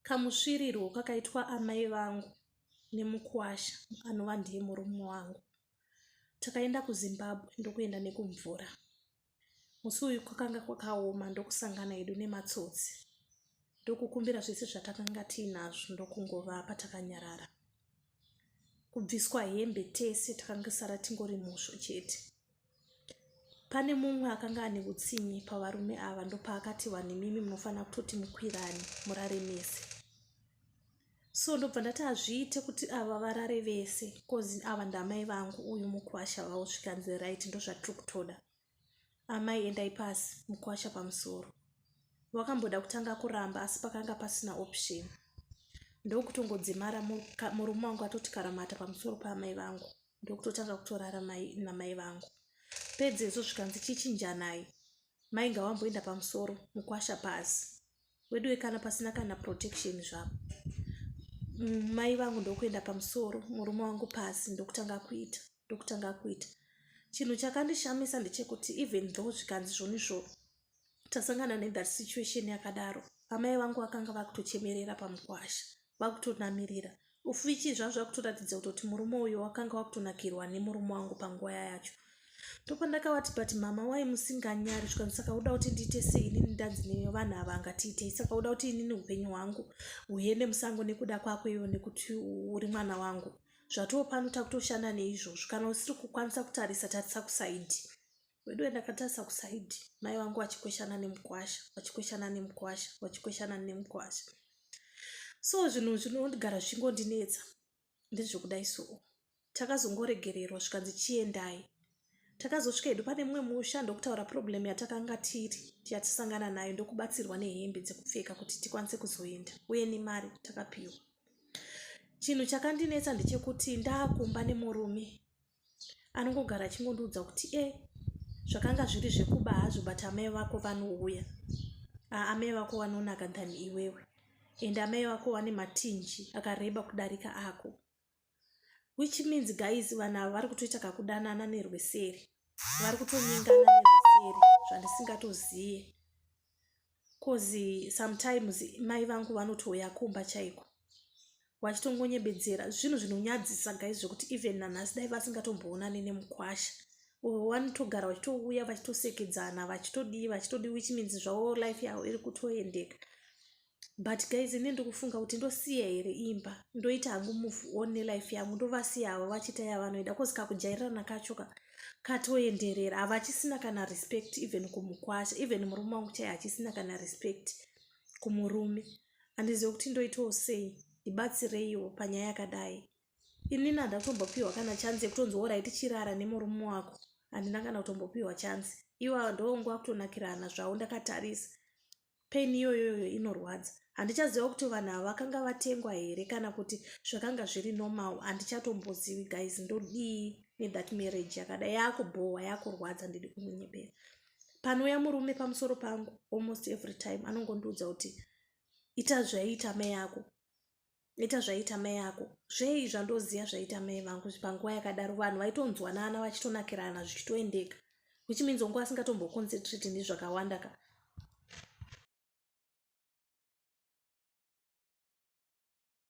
kamusvirirwo kakaitwa amai vangu nemukwasha anova ndiye murume wangu takaenda kuzimbabwe ndokuenda nekumvura musi uyu kwakanga kwakaoma ndokusangana edu nematsotsi ndokukumbira zvese zvatakanga tiinazvo ndokungovapa takanyarara kubviswa hembe tese takangisara tingori musvo chete pane mumwe akanga ane utsinye pavarume ava ndopaakati vanhu imimi munofanira kutoti mukwirani murare mese so ndobva ndati hazviite kuti ava varare vese bcause ava ndamai vangu uyu mukwasha vavo zvikanzi right ndozvatiri kutoda amai endai pasi mukwasha pamusoro wakamboda kutanga kuramba asi pakanga pasina option ndokutongodzimara murume wangu atoti karamata pamusoro paamai vangu ndokutotanga kutorara namai vangu pedzezvo zvikanzi chichinjanai mai ngawamboenda pamusoro mukwasha pasi weduwe kana pasina kana protection zvavo mm, mai vangu ndokuenda pamusoro murume wangu pasi ndokutanga kuita ndokutanga kuita chinhu chakandishamisa ndechekuti even though zvikanzi zvoni zvo tasangana nethat situation yakadaro amai vangu vakanga vakutochemerera pamukwasha vakutonamirira ufichi zvaa zvakutoratidza kutoti murume uyo wakanga wakutonakirwa nemurume wangu panguva yayacho ndopandakavati but mama wai musinganyari zvikanzi saka uda kuti ndiite se inini ndanzi nevanhu ava angatiitei saka uda kuti inini upenyu hwangu huende musango nekuda kwako ivo nekuti uri mwana wangu zvatoo pano takutoshanda neizvozvo kana usiri kukwanisa kutarisa tarisa kusaidi Weduwe ndakatarisa kuside mai vangu vachikweshana nemukwasha vachikweshana nemukwasha vachikweshana nemukwasha so zvinhu zvinogara zvingondinetsa ndezvekudai soo takazongoregererwa zvikanzi chiendai takazosvika hedu pane mumwe musha ndokutaura problem yatakanga tiri yatisangana nayo ndokubatsirwa nehembe dzekupfeka kuti tikwanise kuzoenda uye nemari takapiwa chinhu chakandinetsa ndechekuti ndaakumba nemurume anongogara achingondiudza kuti e zvakanga zviri zvekuba hazvo but amai vako vanouya amai vako vanonaka than iwewe and amai vako vane matinji akareba kudarika ako which means guys vanhu ava vari kutoita kakudanana nerweseri vari kutonyengana nerweseri zvandisingatozive coz sometimes mai vangu vanotouya kumba chaiko vachitongonyebedzera zvinhu zvinonyadzisa gai zvekuti even nanhasi dai vasingatomboonani nemukwasha uyo vanotogara vachitouya vachitosekedzana vachitodii vachitodii which means zvavo life yavo iri kutoendeka but guys ini ndikufunga kuti ndosiya here imba ndoita hangu move on nelife yangu ndovasiya avo vachiita yavanoida bcause kakujairirana kacho ka katoenderera ava achisina kana respect even kumukwasha even murume wangu chai achisina kana respect kumurume handizive kuti ndoitawo sei ndibatsireiwo panyaya yakadai ini nanda kutombopiwa kana chansi yekutonzi worai tichirara nemurume wako handina kana kutombopiwa chansi iwa ndonguva kutonakirana zvavo ndakatarisa pain iyoyoyo inorwadza handichaziva kuti vanhu ava vakanga vatengwa here kana kuti zvakanga zviri normal handichatombozivi guys ndodii nethat marriage yakada yakubhohwa yakurwadza ndidi kumunyepera panouya murume pamusoro pangu almost every time anongondiudza kuti ita zvaiita mai yako ita zvaita mai ako zvei zvandoziva zvaita mai vangu panguva yakadaro vanhu vaitonzwanana vachitonakirana zvichitoendeka which means wangu asingatomboconcentrate nezvakawanda ka